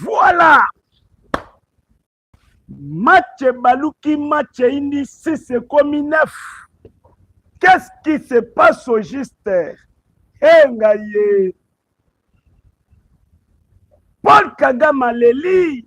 Voilà match baluki match eyindi 6 ekomi 9 qu'est-ce qui se passe au juste enga ye paul kagame aleli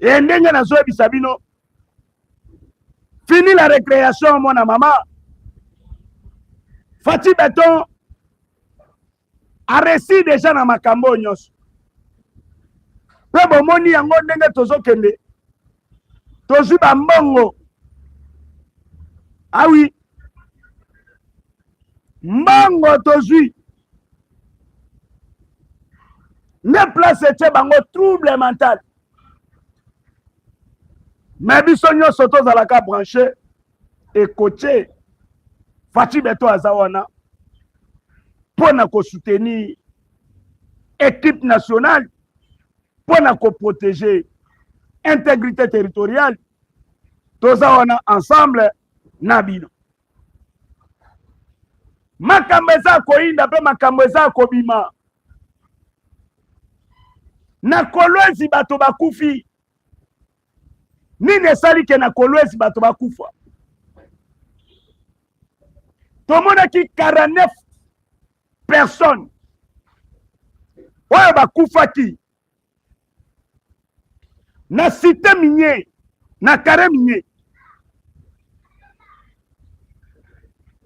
e ndenge nazoyebisa bino fini la recreation mwana mama fati beton aresi deja na makambo oyo nyonso mpe bomoni yango ndenge tozokende tozwi bambongo awi ah mbongo tozwi nde place etye bango trouble mental me biso nyonso tozalaka branche ekotye faci beto aza wana mpo na kosoutenir equipe nationale mpo na koprotege integrité territoriale toza wana ensemble na bino makambo eza koyinda mpe makambo eza kobima na kolwezi bato bakufi nini esali ke na kolwezi bato bakufa tomonaki 49 personne oyo bakufaki na site minier na kare minier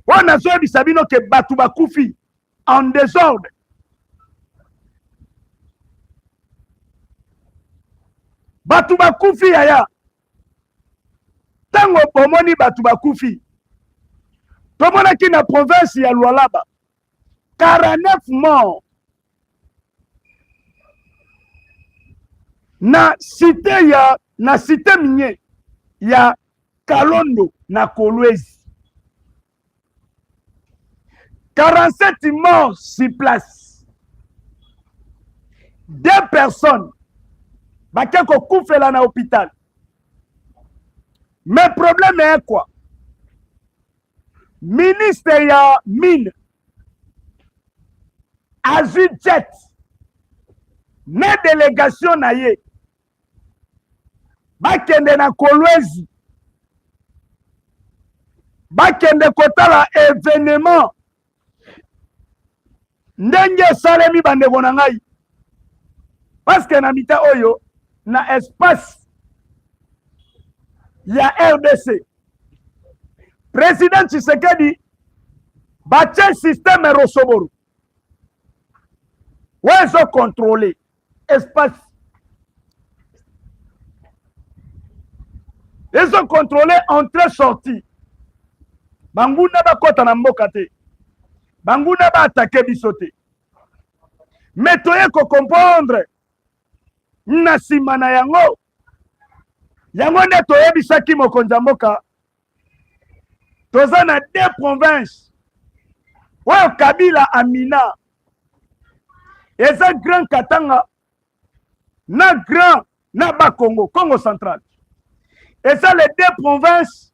oyo nazoyebisa bino ke bato bakufi en desordre bato bakufi yaya ntango bomoni bato bakufi tomonaki na province ya lualaba 49 morts na site ya na site minier ya kalondo na kolwezi 47 morts sur place deux personnes bake kokufela na hôpital mais problème est quoi ministre ya mine azwi jet na délégation na ye bakende na kolwezi bakende kotala evenement ndenge esalemi bandeko na ngai paske na mita oyo na espace ya rdc president tshisekedi batye systeme rosoboro oyo ezokontrole espace ezo contrôle entrée sortie banguna bakɔta na mboka te banguna baatake biso te me toye kocomprendre na nsima na yango yango nde toyebisaki mokonzi ya mboka toza na deux province oyo kabila amina eza grand katanga na grand na bakongo congo central eza les deux province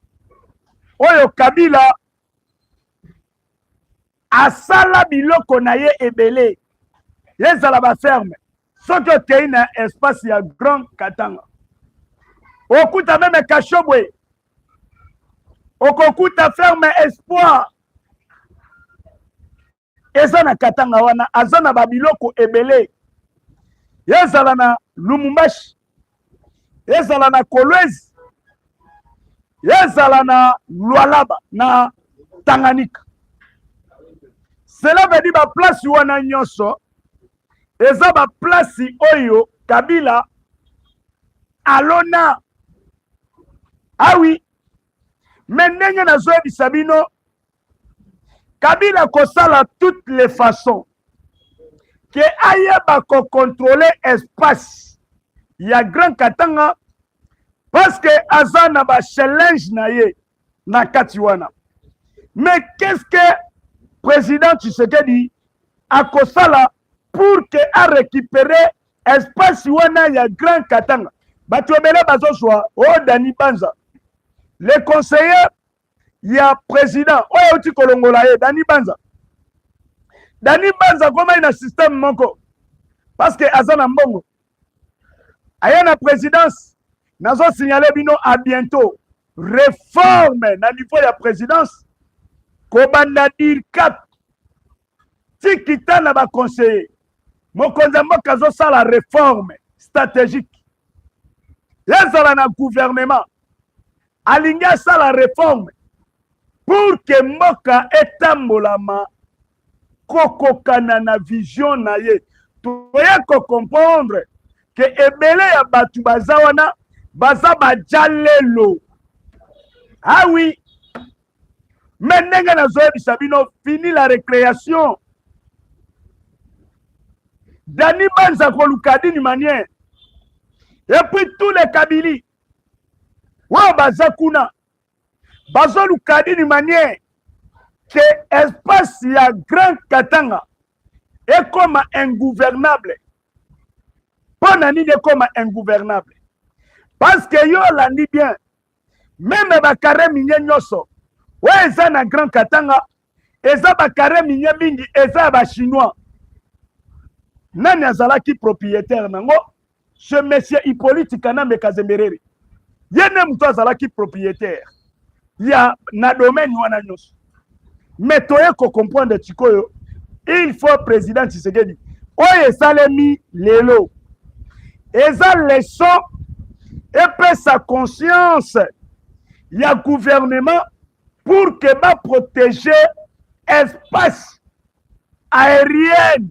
oyo kabila asala biloko na ye ebele ezala baferme soki okei na espace ya grand katanga okuta meme kashobwe okokuta ferme espoir eza na katanga wana aza na babiloko ebele ezala na lumumbashi ezala na Kolwezi, ezala na Lualaba, na Tanganyika. Cela veut dire baplace wana nyonso eza baplace oyo Kabila alona awi ah me ndenge nazoyebisa bino kabila kosala toutes les façons ke ayeba kocontrole espace ya grand katanga parce que aza na bachallenge na ye na kati wana mais qu'est ce que président tshisekedi akosala pour que arécupere espace wana ya grand katanga bato ebele bazozwa o oh, dani banza le conseiller ya president oyo euti kolongola ye dani banza dani banza akomai na systeme moko parce que aza na mbongo aya na présidence nazo signale bino a bientôt reforme na niveau ya présidence kobanda dircap tikita na baconseiller mokonzi ya mboka azosala reforme stratégique ezala na gouvernement alingi asala reforme pour que mboka etambolama kokokana na vision na ye toye kocomprendre ke ebele ya bato baza wana baza bajalelo awi ah me ndenge nazoyebisa bino fini la recreation dani banza koluka dini manière epuis tous les kabili oyo baza kuna bazoluka dini manière ke espace ya grand katanga ekoma ingouvernable mpo na nini ekoma ingouvernable parce que yo olandi bien meme bakare minye nyonso oyo eza na grand katanga eza bakare minye mingi eza ya bachinois nani azalaki propriétaire nango ce monsieur hippolyte kanambe kazembereri ye nde moto azalaki propriétaire ya na domaine wana nyonso mais toye kocomprendre sikoyo il faut président tshisekedi oyo esalemi lelo eza leson epesa conscience ya gouvernement pour que baprotege espace aérienne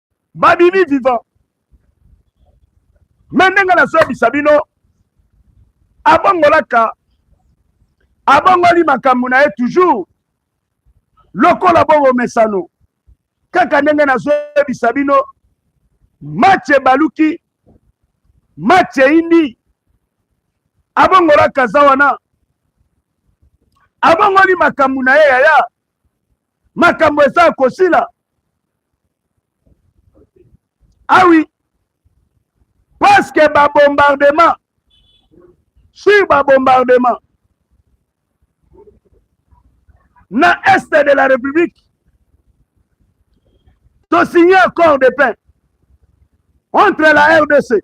babimi vivant me ndenge nazoyebisa bino abongolaka abongoli makambo na ye toujours lokola bongo mesano kaka ndenge nazoyebisa bino match ebaluki match eyindi abongolaka za wana abongoli makambo na ye yaya makambo eza ya kosila awi ah parce que babombardement sur babombardement na est de la république tosigne accord de paix entre la rdc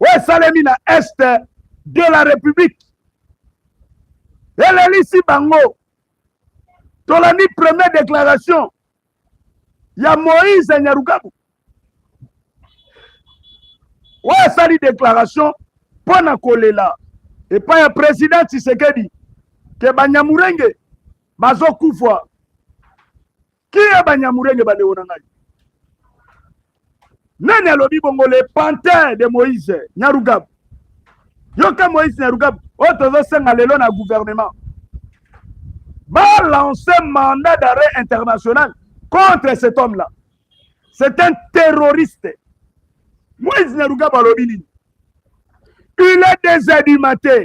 oyo esalemi na est de la république elelisi bango tolandi première déclaration ya moïse nyarukabu oyo asali déclaration mpo na kolela epai ya président tshisekedi ke banyamurenge bazokufa kiye banyamurenge bandeko na ngai nani alobi bongo le pantin de moïse nyarugabu yoka moïse nyarugabu oyo tozosenga lelo na gouvernement balancer mandat d'arrêt international contre cet homme là c'est un terroriste moïse nyarugabu alobi nini il est des du matin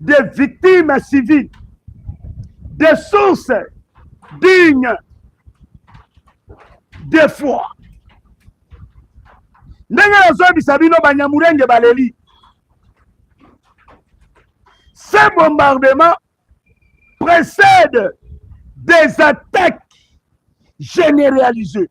des victimes civiles, des sources dignes de foi. ndenge nazoyebisa bino banyamurenge baleli ce bombardement précède des attaques généralisées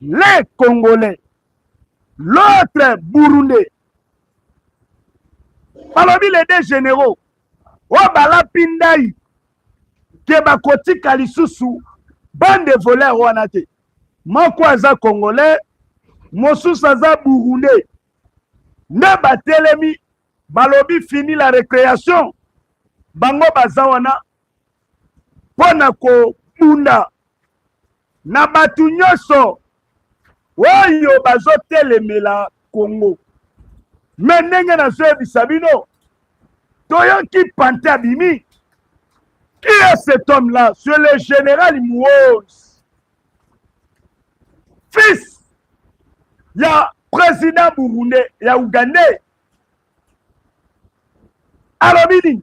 les Congolais, l'autre Burundais. balobi les deux généraux oyo balapi ndai ke bakotika lisusu bande voleur wana te moko aza congolais mosusu aza burundais nde batelemi balobi fini la récréation bango baza wana mpo na kobunda na bato nyonso oyo bazotelemela Congo. Me ndenge nazoyebisa bino, toyoki pante abimi. Qui est cet homme-là? C'est le général Mouose, fils ya président burundais ya ougandais alobi nini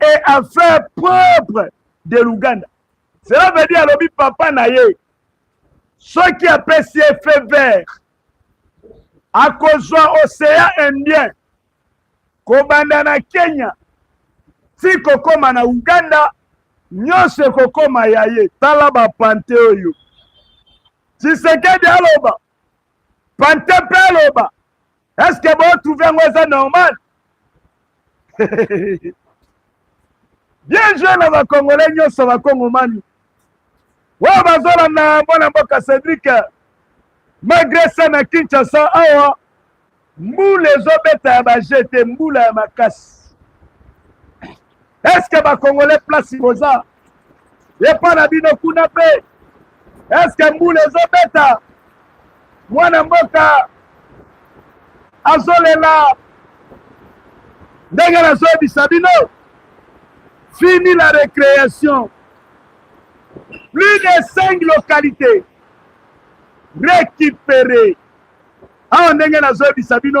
et à faire propre de l'Ouganda. Cela veut dire alobi papa na ye soki apesi ye feu vert akozwa océan indien kobanda na Kenya ti kokoma na Ouganda nyonso ekokoma ya ye. Tala bapante oyo Tshisekedi aloba, pante mpe aloba est ce que bo trouve yango eza normal bien jeu na bakongole nyonso bakongomani oyo bazolanda mwana mboka cedrik malgre ça na kinshasa awa mbula ezobeta ya baje te mbula ya makasi eske bakongole place boza epa na bino kuna mpe eske mbula ezobeta mwana mboka azolela ndenge nazoyebisa bino fini la récréation plus de cinq localités récupérées awa ndenge nazoyebisa bino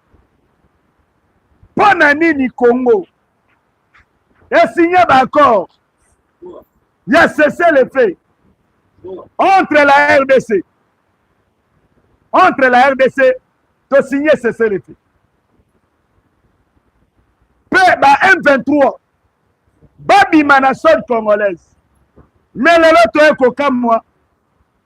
mpo na nini congo esigne baaccord ya cesse le fait entre la rdc entre la rdc tosigne cesse le fait mpe ba m23 babima na sode congolaise me lelo toye kokamwa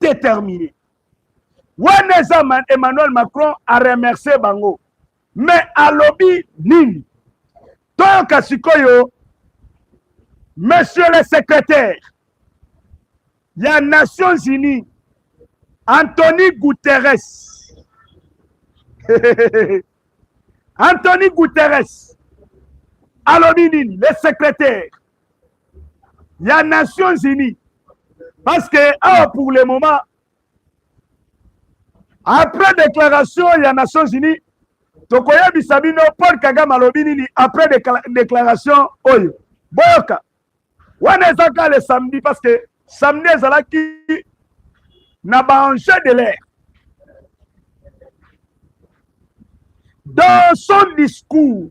determine wana eza emmanuel macron aremercie bango me alobi nini toyoka sikoyo monsieur le secrétaire ya nations unies antony guterres Anthony Guterres, Alominin, le secrétaire ya Nations Unies parce que awa pour le moment après déclaration ya Nations Unies tokoyebisa bino Paul Kagame alobi nini après déclaration oyo boyoka wana eza ka le samedi parce que samedi ezalaki na baenjeu de l'air dans son discours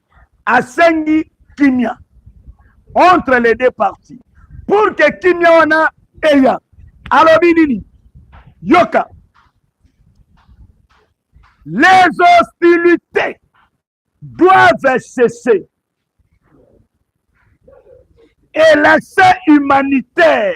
asengi kimia entre les deux parties pour que kimia wana eya alobi nini yoka les hostilités doivent cesser et l'accès humanitaire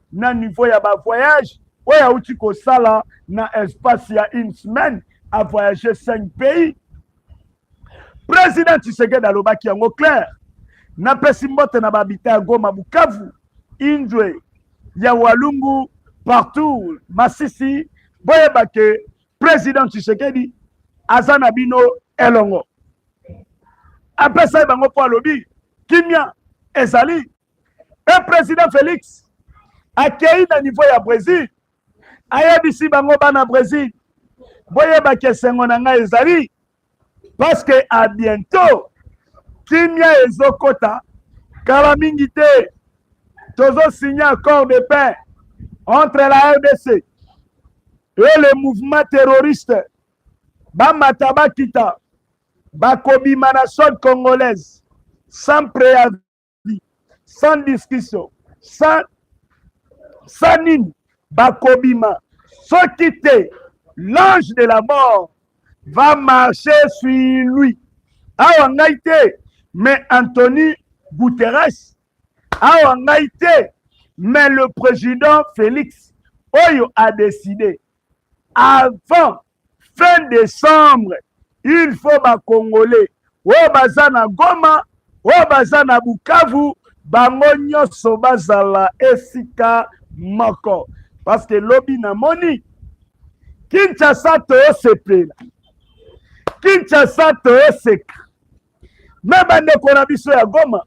na niveau ya ba voyage oyo auti kosala na espace ya une semaine a voyage cinq pays président tshisekedi alobaki yango claire napesi mbote na babita ya goma bukavu indre ya walungu partout masisi boyeba ke président tshisekedi aza na bino elongo apesaki bango mpo alobi kimia ezali mpe president felix akei na niveau ya brésil ayebisi bango bana brésil boyebaki esengo na ngai ezali paske a bientôt kimia ezokota kala mingi te tozosigne accord de paix entre la rdc et le mouvement terroriste bamata bakita bakobima na sode congolaise sans préavis vie sans discussion sans sans nini bakobima soki te l'ange de la mort va marcher sur lui awa ngai te mais Anthony Guterres awa ngai te mais le président Félix oyo a décidé avant fin décembre il faut bakongole oyo baza na goma oyo baza na bukavu bango nyonso bazala esika moko parce que lobi namoni kinshasa toyosepela kinshasa toyoseka me bandeko na biso ya goma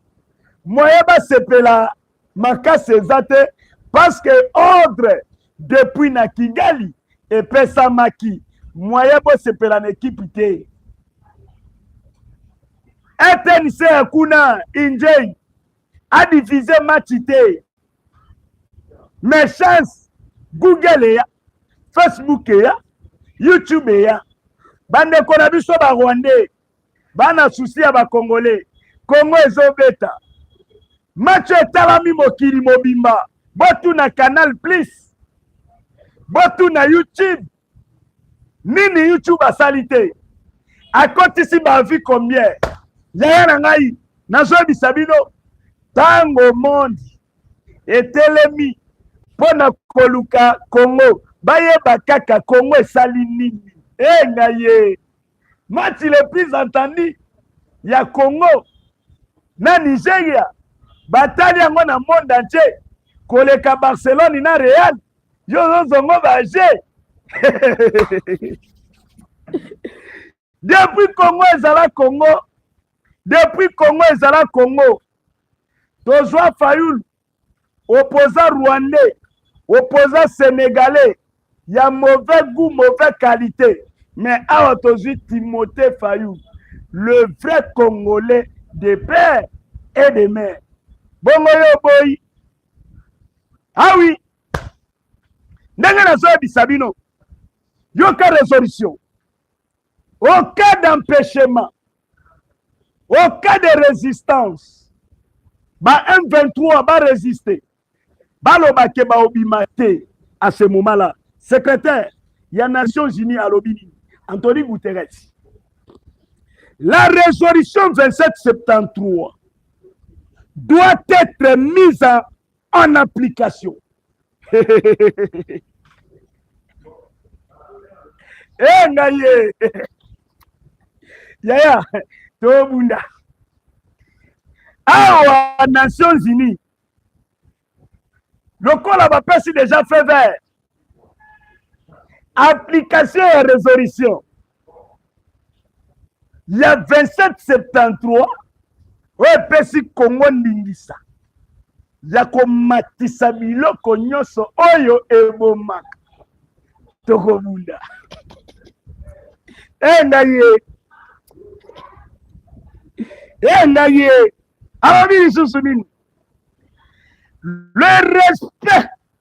moye basepela makasi eza te parce que ordre depuis na kigali epesamaki moyen bosepela na ekipe te etnc ya kuna injei adivise match te mais chance google eya facebook eya youtube eya bandeko na biso barwandais bana susi ya bakongole kongo ezobeta match etalami mokili mobimba botuna canal plus botuna youtube nini youtube asali te akotisi bavi combien yaya na ngai nazoyebisa bino ntango monde etelemi mpo na koluka kongo bayeba kaka kongo esali nini e ngai ye match le plus entendu ya congo na nigeria batali yango na monde entier koleka barcelone na real yo ozozongo baje depuis congo ezala congo depuis congo ezala congo tozwa fayulu opposant rwandais opposant sénégalais ya mauvais goût mauvais qualité mais awa tozwi timothée fayou le vrai congolais de père et de mère bongo yo oboyi awi ah ndenge nazoyebisa bino yoka résolution Au cas d'empêchement, au cas de résistance, ba M23 ba résister, baloba ke baobima te à ce moment-là. Secrétaire ya Nations Unies alobi nini? Anthony Guterres. La résolution 2773 doit être mise en en application e ngai ye yaya tobunda awa nations unis lokola bapesi deja feu vert application ya resolution ya 2773 oyo epesi kongo ndingisa ya komatisa biloko nyonso oyo ebomaka tokobunda enga ye enga ye alobi lisusu nini le respect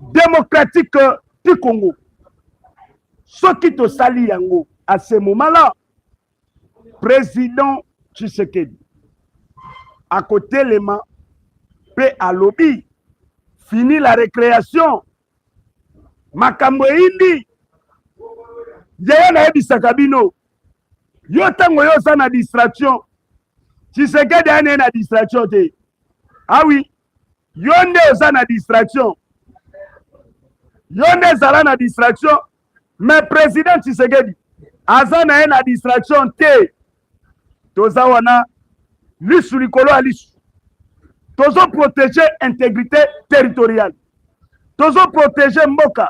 démocratique du Congo. Ce qui te salit yango à ce moment-là, président Tshisekedi, à côté les mains, paix à lobby, fini la récréation, makambo eyindi yeye nayebisaka bino yo ntango yo oza na distraction tshisekedi ane na distraction te awi ah yo nde oza na distraction yo nde ezala na distraction mais président tshisekedi aza na ye na distraction te toza wana lisu likolo ya lisu tozo protege intégrité territoriale tozo protege mboka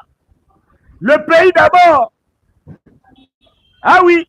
le pays d'abord ah oui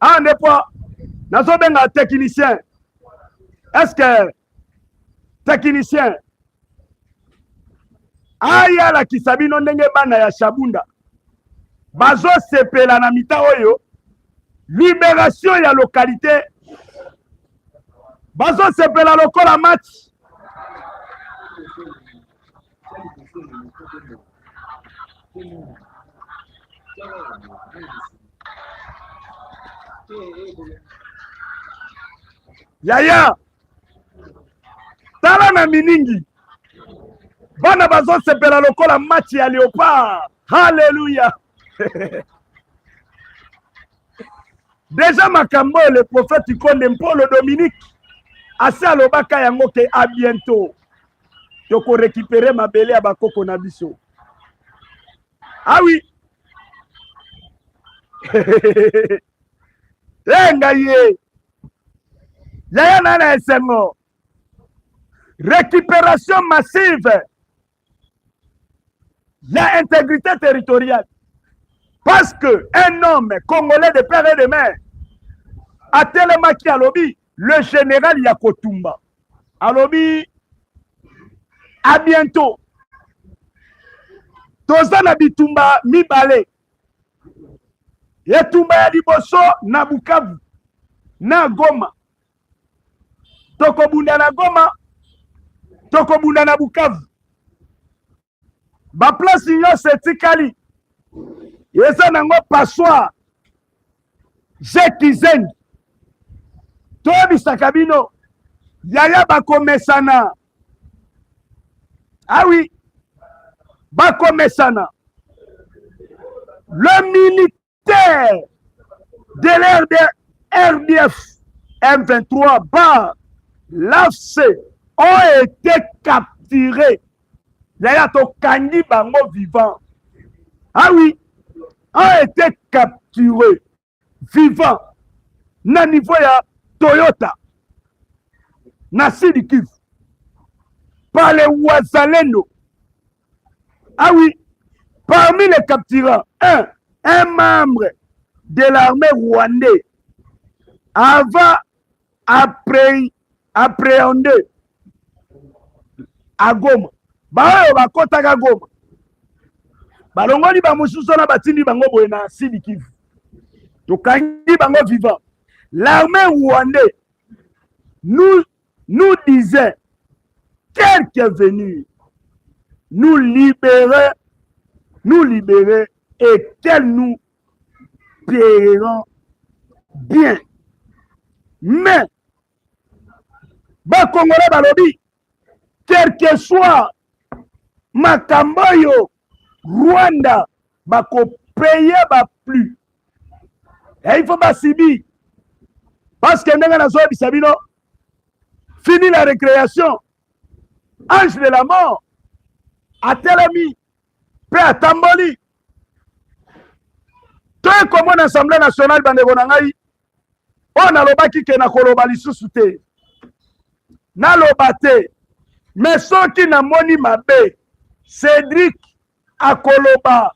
awa nde mpo nazobenga technicien eske technicien aya alakisa bino ndenge bana ya shabunda bazosepela na mita oyo liberation ya lokalite bazosepela lokola match yaya tala na miningi bana bazosepela lokola match ya leopard haleluya deja makambo oyo le prophète konde mpolo dominique asi alobaka yango ke a bientôt toko récupérer mabele ya bakoko na biso ah oui e ngai ye yaya na na esengo récupération massive ya intégrité territoriale parce que un homme congolais de père et de mère atelemaki alobi le general ya kotumba alobi a bientôt toza na bitumba mibale etumba ya liboso na bukavu na goma tokobunda na goma tokobunda na bukavu baplace nyonso etikali eza nango passoire je kizengi toyebisaka bino yaya bakomesana awi ah bakomesana le minute terre de l'RDF M23 bar l'AFC ont été capturés. Yaya tokangi bango vivant. Ah oui, ont été capturés vivant na niveau ya Toyota na Sud Kivu par les Wazalendo Ah oui, parmi les capturants, un, un membre de l'armée rwandaise avant après appréhendé à Goma. baoyo bakotaka Goma balongoli bamosusu wana batindi bango boye na sidi kivu tokangi bango vivant l'armée rwandais nous nous disait quel que venir nous libérer nous libérer et qu'elle nous payeront bien mais bakongole balobi quelque soit makambo oyo Rwanda bakopeye ba plus ya il faut basibi parce que ndenge nazoyebisa bino fini la récréation ange de la mort atelemi mpe atamboli toye komona assemblée nationale bandeko na ngai oyo nalobaki ke nakoloba lisusu te naloba te me soki namoni mabe cédrik akoloba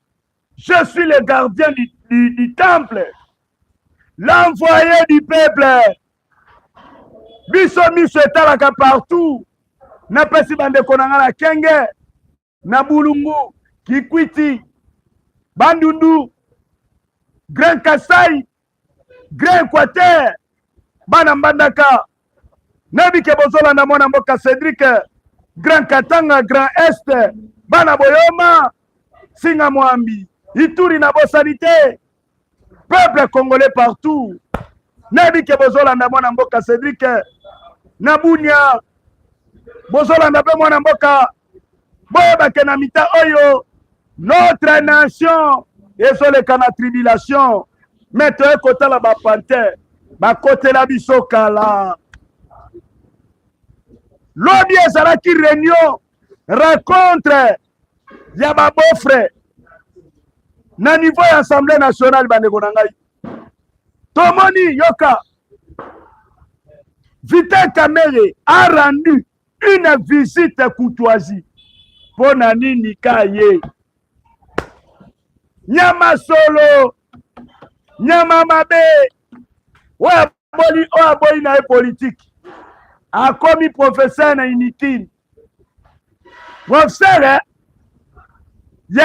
je suis le gardien du, du, du temple l'envoyé du peuple biso miso etalaka partout napesi bandeko na ngai na kenge na Bulungu, Kikwiti, Bandundu, Grand Kasai, Grand Equateur, bana Mbandaka, nayebi ke bozolanda mwana mboka Cedric, Grand Katanga, Grand Est, bana Boyoma, Singa Mwambi, Ituri na bosani te, peuple congolais partout nayebi ke bozolanda mwana mboka cedrik na bunia bozolanda mpe mwana mboka boyebake na mita oyo notre nation ezoleka na tribulation me toye kotala bapanther bakotela biso kala lobi ezalaki reunion rencontre ya ba beau frère na niveau ya assemblée nationale bandeko na ngai tomoni yoka Vital Kamerhe a rendu une visite courtoisie mpo na nini ka ye nyama solo nyama mabe oyo boli oyo aboyi na ye politiki akomi professeur na inutile professeur eh? ye